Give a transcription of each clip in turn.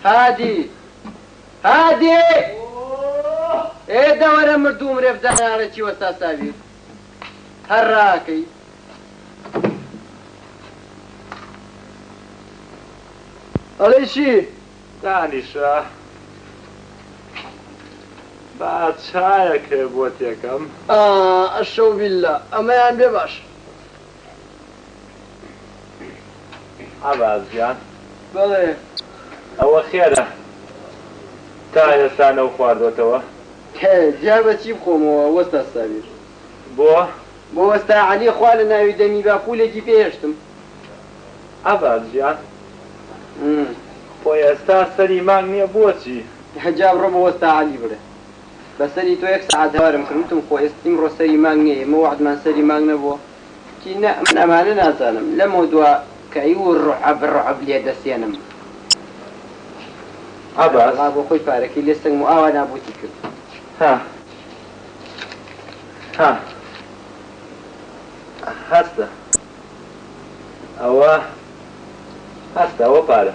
هادی. هادی! ئێ دەوەرە مردووم رێف جەنەراڵێکی وەستا ساویر هەر راکەی. ئەڵێی چی؟ دانیشە با چایەکێ بۆت یەکەم. ئا ئەشەوبیللا ئەمەیان بێ باشە. عەباس گیان بەڵێ ئەوە خێرە تا ئێستا نەوخواردۆتەوە؟ هێ جا بە چی بخۆمەوە وەستا سابیر؟ بۆ؟ بۆ وەستا عەلی خوا لە ناوی دەمی با پوولێکی پێ هێشتم. عەباس گیان خۆ ئێستا سەری مانگ نییە بۆچی؟ جا بڕۆ بۆ وەستا عەلی بڵێ بەسەری تۆ یەک سەعات هەوارم کرد وتم خۆ ئێست ئیمڕۆ سەری مانگ نیە ئێمە وەعدمان سەری مانگ نەبووە وتی نا من ئەمانە نازانم لەمەو دوا کەی و ڕعەب ڕعەب لێ دەسێنم عەباس عەبدوڵا بۆ خۆی پارەکەی لێ سەنگم و ئاوا نابوتی کرد. هە هە هەستە ئەوە هەستە ئەوە پارە.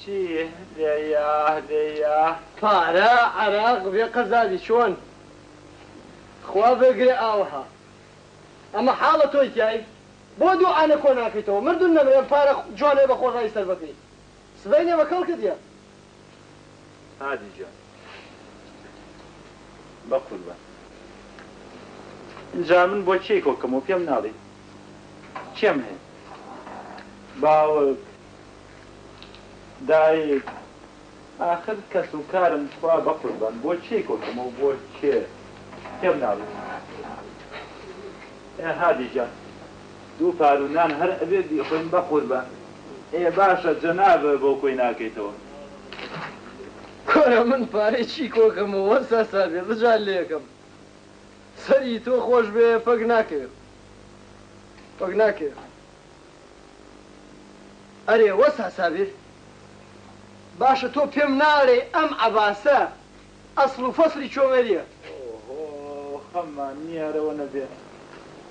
چی لێیە لێیە پارە عەراق بێ قەزابی چۆن خوا بەگرێ ئاوەها ئەمە حاڵە تۆی تیای بۆ دوعا نە کۆ ناکەیتەوە مردن نەمرێم پارە جوانێ بە خۆ ڕای سەر بەکەی سبەینێ بە کەڵکت یە. هادی جان بەقوربان جا من بۆ کێی کۆکەمەوە پێم ناڵی کێم هەیە باوک. دایک، ئاخر کەس و کارم خوا بەقوربان بۆ کێی کۆتم و بۆ کێ تێم ناویت؟ ئێ هادی گیان دوو پارو نان هەر ئەبێ بیخۆین بەقوربان، ئێ باشە جەنابە بۆ کۆی ناکەیتەوە؟ کورە من پارەی چی کۆکەم و وەست هەسابێ بجار لێکەم؟ سەری تۆ خۆش بێ پەک ناکەوێ پەک ناکەوێ. ئەرێ وەستا سابیر باشە تۆ پێم ناڵێی ئەم عەباسە ئەسڵ و فەسڵی چۆمەریە؟ ئۆهۆ خەممان نیارەوە نەبێ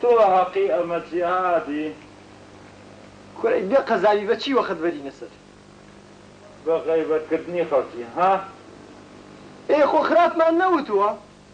تۆ هەقی ئەمە جیهادی. کورەی بێ قەزاوی بە چی وەخت بەرینە سەر. بە غەیبەت کردنی خەڵکی ها. ئێ خۆ خراپمان نەوتووە.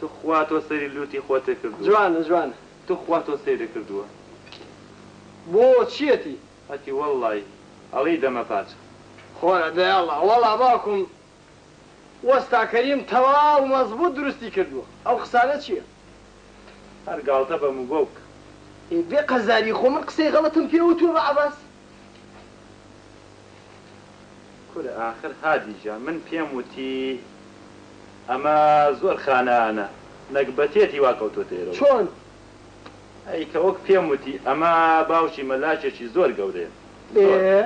توخوا تۆ سەیری لوتی خۆتێ کردووە. جوانە جوانە. توخوا تۆ سەیرێ کردووە. بۆ چیەتی. هەتی وەڵڵایی ئەڵێی دەمە پاچە. خۆرە دەی ئەڵا وەڵا باوکم وەستا کەریم تەواو مەزبوت دروستی کردوە ئەو قسانە چیە. هەر گاڵتە بە موبەو بکە. ئێ بێ قەزاری خۆ من قسەی غەڵەتم پێ وتوە بە عەباس. کورە ئاخر هادی گیان من پێم وتی ئەمە زۆر خانانە نەگبەتیەتی وا کەوتۆتە ئێرە چۆن؟ ئەی کە وەک پێم وتی ئەمە باوکی مەلاکێکی زۆر گەورەیە زۆر ئێ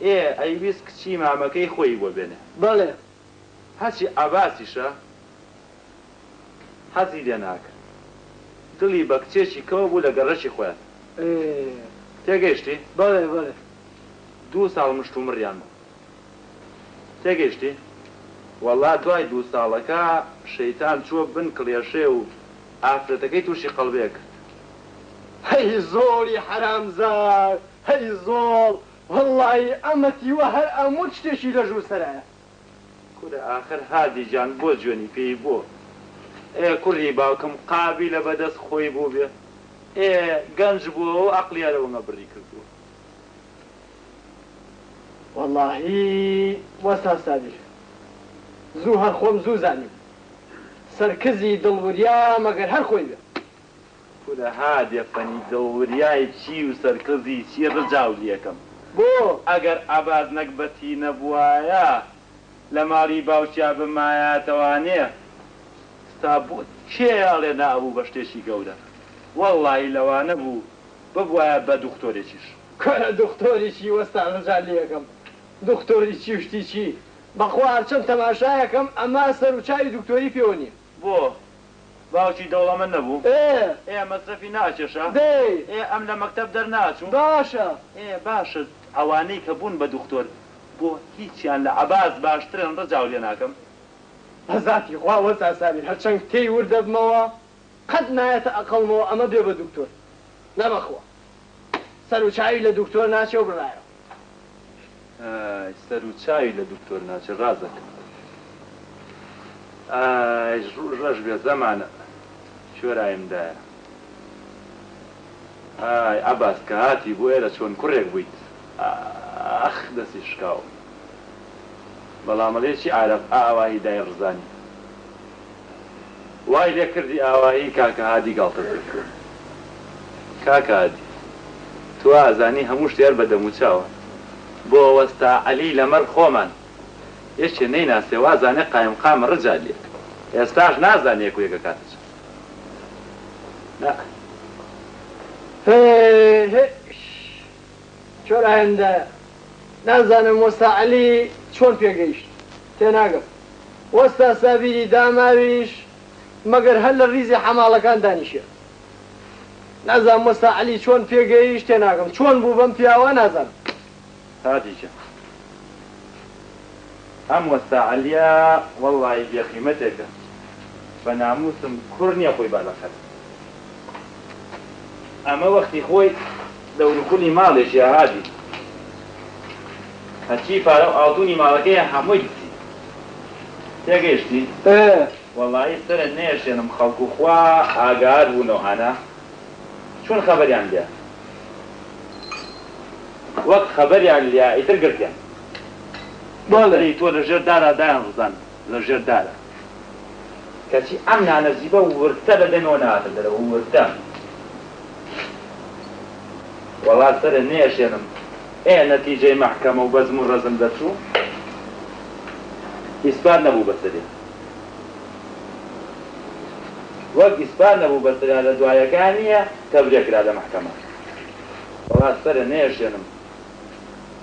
ئەی ئەیویست کچی مامەکەی خۆی بۆ بێنێ بەڵێ هەرچی عەباسیشە حەزی لێ ناکرد دڵی بە کچێکی کەوە بوو لە گەڕەکی خۆیان تێگەیشتی؟ بەڵێ بەڵێ. دوو ساڵ مشتومڕیان بوو تێگەیشتی؟ وەڵا دوای دوو ساڵەکە شەیتان چووە بن کڵێشێ و ئافرەتەکەی تووشی قەڵبەیە کرد. هەی زۆڵی حەرامزاد هەی زۆڵ وەڵڵاهی ئەمەتی وە هەر ئەموت شتێکی لە ژوور سەرایە. کورە ئاخر هادی جان بۆ جوێنی پێی بۆ ئێ کوڕی باوکم قابیلە بەدەست خۆی بووبێ ئێ گەنج بووە و ئەقڵیا لە وەنگە بڕی کردووە. وەڵاهی وەستا سابیر زوو هەر خۆم زوو زانیم سەرکزی دڵ وریا مەگەر هەر خۆی بێ. کورە ها دێفەنی دەوریای چی و سەرکزی چی ڕجاو لێکەم بۆ ئەگەر عەباس نەگبەتی نەبوایە لە ماری باوکیا بمایاتەوانێ ستا بۆ کێ ئەڵێ نا ئەبوو بە شتێکی گەورە وەڵاهی لەوانە بوو ببوایە بە دوختۆرێکیش. کورە دوختۆری چی وەستا ڕجا لێکەم دوختۆری چی و شتی چی بەخوا هەرچەن تەماشایەکەم ئەما سەرو چاوی دوکتۆری پێوە نیە. بۆ؟ باوکی دەوڵەمەن نەبوو؟ ئێ! ئێ مەسرەفی ناکێشا؟ دەی! ئێ ئەم لە مەکتەب دەرناچوو؟ باشە! ئێ باشە ئەوانەی کە بوون بە دوختۆر بۆ هیچیان لە عەباس باشترن ڕجاو لێ ناکەم. بە زاتی خوا وەرزا سابیر هەرچەند پێی وردەبمەوە قەت نایەتە ئەقڵمەوە ئەمە بێ بە دوکتۆر نەبەخوا. سەرو چاوی لە دوکتۆر ناچێ و بڕایە. ئای سەرو چاوی لە دوکتۆر ناچێ ڕازەکە. ئای ڕوژ ڕەش بێ زەمانە کوێرایم دایە. ئای عەباس کە هاتی بۆ ئێرە چۆن کوڕێک بوویت ئاخ دەستی شکاو بەڵام ئەڵێ چی عارەب ئاوا هی دای ڕزانی. وای لێ کردی ئاوایی کاکە هادی گاڵتەت پێ کرد کاکە هادی تۆ ئازانی هەموو شتێ هەر بە دەموو چاوە بۆ وەستا عەلی لە مەر خۆمان یەکێ نەیناسێ وازانێ قایم قام رجالیە ئێستاش نازانێ یەک و یەک ئەکاتە چەن نا هێێێێ چۆن ئایندە نازانم وەستا عەلی چۆن پێگەیشت تێناگەم. وەستا سابیری داماویش مەگەر هەر لە ریزی حەماڵەکان دانیشێ. نازانم وەستا عەلی چۆن پێ گەیشت تێناگەم. چۆن بوو بەم پیاوە نازانم. هادی جا ئەم وەستا عەلیە وەڵڵاهی بێ قیمەتێکە بە ناموسم کوڕ نیە خۆی با لە قەرت ئەمە وەختی خۆی. دەوروخونی ماڵێ جیا هادی هەرچی پارە و ئاڵتونی ماڵەکەیە هەمووی دزی تێگەیشتی؟ ئێ وەڵایی سەرە نەیەشێنم خەڵک و خوا ئاگار بوو لەو هانە چون خەبەریان لیا وەک خەبەریان لیا ئیتر گرتیان بەس بەڵێ. سەری تۆ لەژێر دارا دایان ڕزاند لەژێر دارا. کەچی ئەم نانەسیبە وردتە بە دەمەوە ناهاتە دەرەوە وردتە وەڵا سەرێ نەیەشێنم ئێ نەتیجەی مەحکەمە و بەزم و ڕەزم دەرچوو ئیسپات نەبوو بەسەریا وەک ئیسپات نەبوو بەسەریا لە دوایەکان نییە تەڤرێ کرا لە مەحکەمە وەڵا سەرێ نەیەشێنم.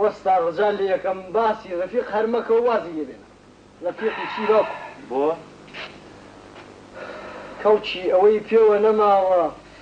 وەستا ڕجا لەیەکەم باسی ڕەفیق هەر مەکە و وازی لێ بێنە ڕەفیقی چیرۆک بۆ کەڵکی ئەوەی پێوە نەماوە.